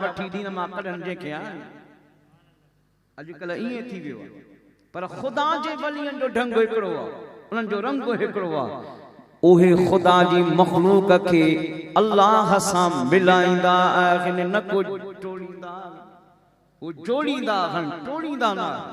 وٺي دين مان ڪڍن جنهن کي آڻي اڄڪلهه ائين ٿي ويو آهي پر خدا جي ولين جو ڍنگ هڪڙو آهي انهن جو رنگ به هڪڙو آهي اهي خدا جي مخلوق کي الله سان ملائيندا آهن نه ڪو ٽوڙيندا آهن ڪو جوڙيندا آهن ٽوڙيندا نه آهن.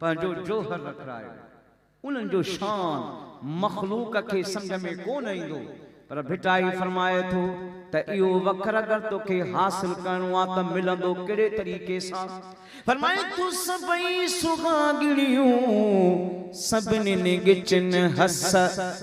پنهنجو جوهر لکرايو. انهن جو شان مخلوق کي سمجهه ۾ ڪو نه ايندو، پر ڀٽائي فرمائي ٿو ته اهو وکر اگر توکي حاصل ڪرڻو آ ته ملندو ڪهڙي طريقي سان؟ فرمائي ٿو سڀئي سهاڳڻيون سڀنين ڳچن هس.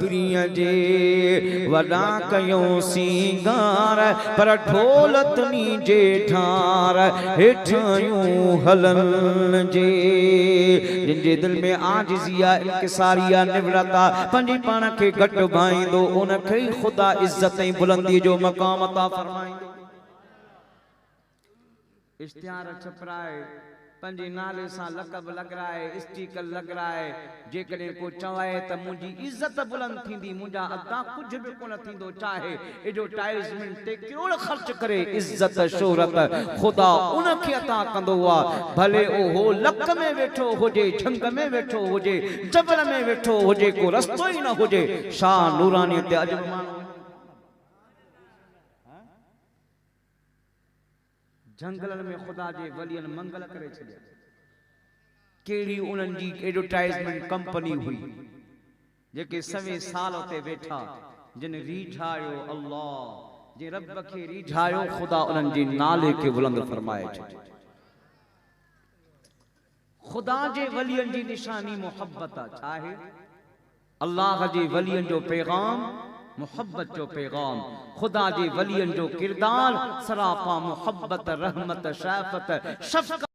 ترين جي وڏا ڪيون سينگار پر ڍول تنين جي ڍار هيٺايون هلن جي جن جي دل ۾ عاجزي آ انڪساري آ نفرت آ پنهنجي پاڻ کي گهٽ ڀائيندو ان کي ئي خدا عزت ۽ بلندي جو مقام عطا فرمائيندو. اشتهار ڇپرائي، پنهنجي نالي سان لقب لڳرائي، اسٽيڪر لڳرائي، جيڪڏهن ڪو چوائي ته منهنجي عزت بلند ٿيندي، منهنجا ادا ڪجهه به ڪونه ٿيندو، چاهي ايڊورٽائيزمينٽ تي ڪروڙ خرچ ڪري، عزت شهرت خدا ان کي عطا ڪندو آ، ڀلي اهو لڪ ۾ ويٺو هجي، جهنگ ۾ ويٺو هجي، جبل ۾ ويٺو هجي، ڪو رستو ئي نه هجي، شاهه نورانيء تي اڄ به ماڻهو وڃن ٿا نه ڀلا. جهنگلن ۾ خدا جي ولين منگل ڪري ڇڏيا. ڪهڙي انهن جي ايڊورٽائيزمينٽ ڪمپني هئي، جيڪي سوين سال اتي ويٺا، جن ريجهايو الله، جنهن رب کي ريجهايو خدا انهن جي نالي کي بلند فرمائي ڇڏيو. خدا جي ولين جي نشاني محبت آ ڇاهي الله جي ولين جو پيغام محبت جو پيغام خدا جي ولين جو ڪردار سراپا محبت رحمت شافت شفقت.